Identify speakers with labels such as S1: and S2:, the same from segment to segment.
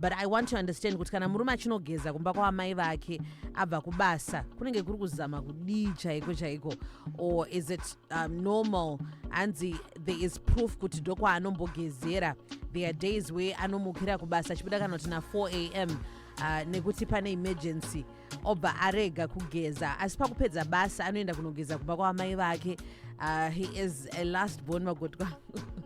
S1: but i want to understand kuti kana murume achinogeza kumba kwaamai vake abva kubasa kunenge kuri kuzama kudii chaiko chaiko or is it um, normal hanzi there is proof kuti ndokwaaanombogezera there are days where anomukira kubasa achibuda kana kuti na4 a m uh, nekuti pane emergency obva arega kugeza asi pakupedza basa anoenda kunogeza kumba kwaamai vake uh, he is a last born vagotwa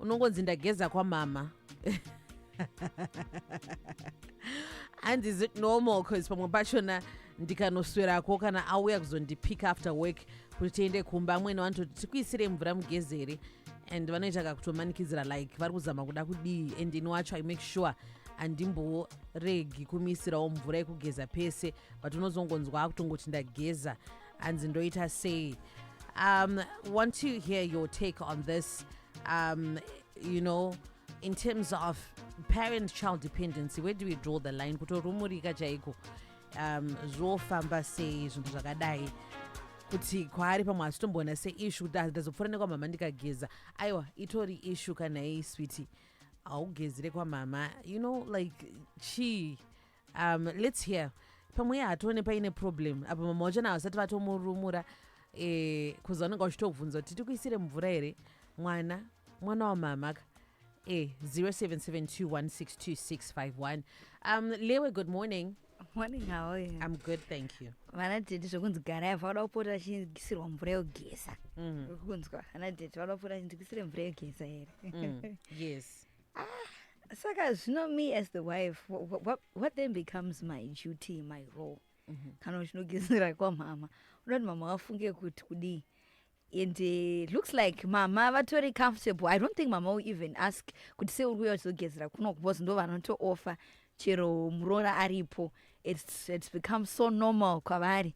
S1: unongonzi ndageza kwamama and is it normal bcause pamwe pachona ndikanoswerako kana auya kuzondipick after work kuti tiende kumba amwene vanototi tikuisire mvura mugezere and vanoita kakutomanikidzira like vari kuzama kuda kudii and ini wacho i make sure handimboregi kumisirawo mvura yekugeza pese but unozongonzwa akutongoti ndageza hanzi ndoita sei um, want to hear your take on this um, you know in terms of parent child dependency where do we draw the line kutorumurika chaiko um, zvofamba sei zvinhu zvakadai kuti kwaari pamwe asitomboona seishu kuti ndazopfuura nekwamama ndikageza aiwa itori ishu kana iyi switi haugezire kwamama you know like chii um let's hear pamwe hatione paine problem apa mama wacho na vasati vatomurumura eh, kuzi vanenge vachitobvunza kuti tikuisire mvura here mwana mwana wamama ka eh, 0772162651 um lewe good morning morning how are
S2: you i'm good thank you
S1: vana tete zvekunzi
S2: garai vanoda kupota vachinzikisirwa mvura yogeza mm. kunzwa vana tete vanoda kupota vachinzikisire mvura yogeza here mm. yes ah, saka zvino me as the wife what, what, what then becomes my duty my role mm -hmm. kana uchinogezera kwamama unoti mama wafunge kuti kudii and uh, looks like mama vatori comfortable i don't think mama will even ask kuti se uri kuya uchizogezera kuno because ndo vanotooffa chero muroora aripo it's, it's become so normal kwavari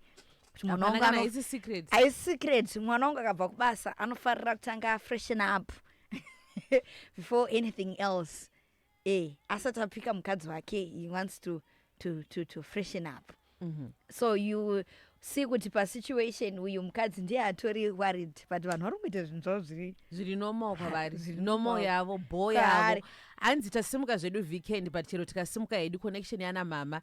S1: aisecret
S2: mwana wangu akabva kubasa anofarira kutanga freshen up before anything else eh, asati apika mukadzi wake he wants to, to, to, to freshen up mm -hmm. so you see kuti pasituation uyu mukadzi ndiye atori worried but vanhu vari kuita zvinhu zvavo zviri zviri normal
S1: kwavari normal yavo bho yavo hanzi tasimuka zvedu weekend but chero tikasimuka hedu connection yana mama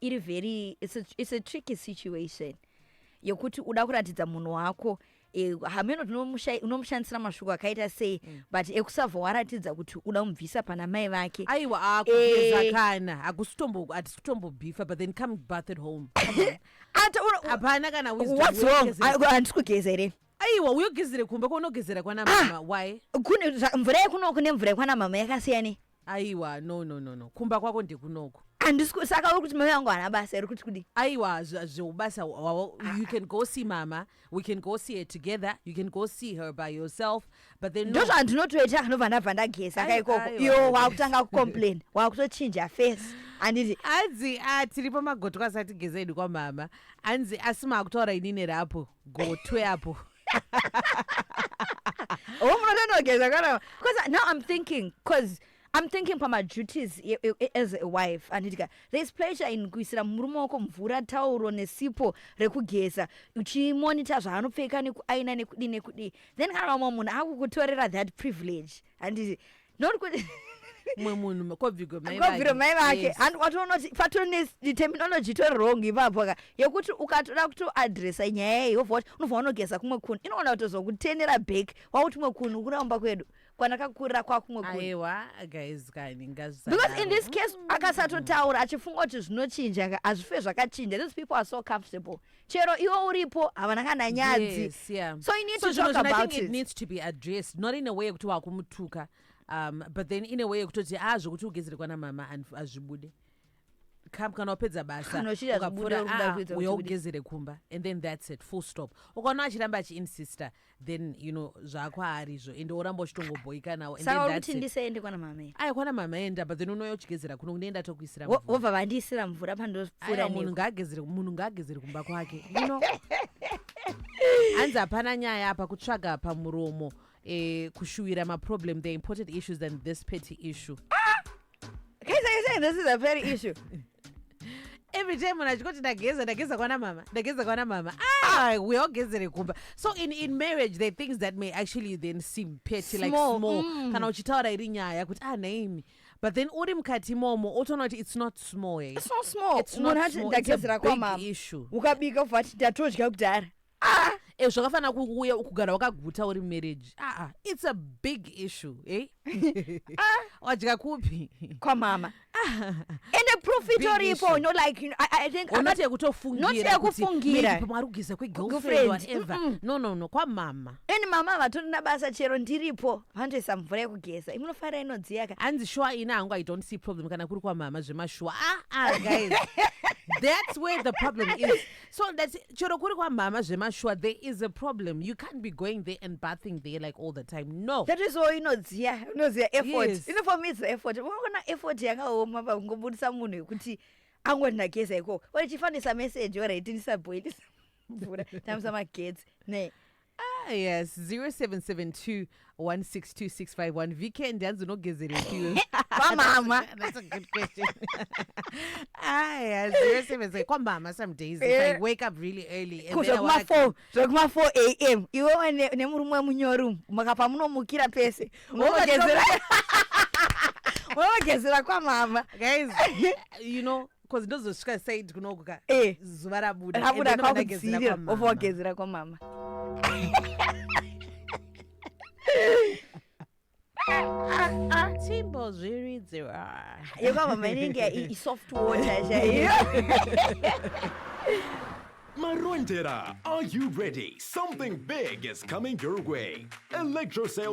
S2: iri very it's a, it's a tricky situation yekuti uda kuratidza munhu wako eh, hameno tinomusha- unomushandisira mashoko akaita sei Mm. but ekusava waratidza kuti uda kumubvisa pana mai vake aiwa Eh. akugeza
S1: kana hakusi kutombo hatisi kutombobhifa but then come bath at home Ata- una- hapana kana wisdom what's wrong wekugezera. Ah, handisi
S2: kugeza here aiwa uyogezere
S1: kumba kwaunogezera kwana mama why kune zva- mvura
S2: yekunoku nemvura yekwana mama yakasiyane aiwa no
S1: no no no kumba kwako ndekunoku andisi saka uri
S2: kuti mai vangu hana basa iri kuti kudii aiwa zveubasa
S1: hwavo you can go see mama we can go see her together you can go see her by yourself but then ndo zvandinotoita anobva
S2: ndabva ndageza ka ikoko iwo wakutanga kucomplain wakutochinja face anditi anzi ah,
S1: tiri pamagotwa asati geza idi kwamama anzi asi maakutoora inini rapo gotwe apo
S2: oh munotonogeza kana because now i'm thinking because i'm thinking pamaduties e- e- e- as a wife anditika there is pleasure in kuisira murume wako mvura tauro nesipo rekugeza uchimonita zvaanopfeka nekuaina nekudii nekudii then kana vamwe munhu akukutorera that privilege handiti not kuti
S1: mwe munhu kobvigo mai kobviro mai vake yes.
S2: and watoona kuti
S1: patone
S2: the terminology to wrong ipapo ka yekuti ukatoda kuto addressa nyaya iyi wobva wati unobva wanogeza kumwe kunu inoona kutozokutenera back wakuti mwe kunu kuramba kwedu kwanakakurira kwakumwe kuaiwa guys
S1: kani because in this
S2: case akasatotaura achifunga kuti zvinochinja hazvife zvakachinja these people are so comfortable chero iwo uripo havana kana nyadzi yes, yeah. so you need so,
S1: to talk about I
S2: think it. it needs to be addressed
S1: not in a way yekuti wakumutuka um, but then in a way yekutoti a ah, zvekuti ugezere kwana mama hazvibude kana wapedza basa ukapfura
S2: ah, uya ugezere kumba
S1: and
S2: then
S1: that's it full stop ukaona achiramba achiinsister then you know zvakwaari izvo ende oramba uchitongobhoika nawo saka uri kuti ndisaende kwana
S2: mame aya kwana mame enda but
S1: then unouya uchigezera kuno kune enda tokuisira wobva vandiisira
S2: mvura pandopfuura munhu ngaagezere munhu
S1: ngaagezere kumba kwake you know hanzi hapana nyaya apa kutsvaga pamuromo eh, kushuwira maproblem the important issues than this petty issue ah!
S2: Guys, are you saying this is a petty issue?
S1: every time munhu achikoti ndageza ndageza kwana mama ndageza kwana mama ah, we all gezere kumba so in, in marriage there are things that may actually then seem petty like Small, small mm. kana uchitaura iri nyaya kuti ah naimi but then uri mukati imomo otoona kuti it's not small eh. It's not small. It's
S2: not Munhu ati small. It's a ndagezera
S1: big kwamama. issue. Ukabika ubva ati
S2: ndatodya kudhara. ah e zvakafanira
S1: kuuya kugara wakaguta uri marriage aa ah, ah, it's a big issue e ah. wadya kupi kwamama
S2: ende proof itoripo no like i think not yekutofungira
S1: kufungira pamwari
S2: kugeza kwegirlfriend
S1: whatever no no no kwamama ende mama vatonina
S2: basa chero ndiripo vandoisa mvura yekugeza imunofara inodziyaka hanzi shuwa ini hangu i
S1: don't see problem kana kuri kwamama zvemashuwa aa guys that's where the problem is So that's it. Chero kuri kwa mama zvemashuwa there is a problem. You can't be going there and bathing there like all the time. No. that is all inodziya
S2: inoziya effort Yes. ino for me it's the
S1: effort
S2: unoona effort yakaoma pakungobudisa munhu yekuti angoti ndageza ikoko ore chifanisa message ore iti ndisabhoilisa mvura tamisa magetsi ne Ah, yes 0772 162651
S1: vkend hanzi unogezerepiwe kwamama That's
S2: a good
S1: question. ah, yes 0772 kwamama some days if i Eh. wake up really early and Ku- then I wanna zvekuma4 zvekuma4
S2: am iwewe ne- nemurume wemunyori umu maka pamunomukira pese Unogezera- unogezera kwamama guys
S1: you know bcoz ndozosvika said kunoku ka eh. zuva rabuda rabuda kwakudzirira
S2: obva wagezera kwamama
S1: Timbo zviridzira yekwamama
S2: inenge isoft water chaiyo
S3: Marondera, are you ready? Something big is coming your way. Electrocell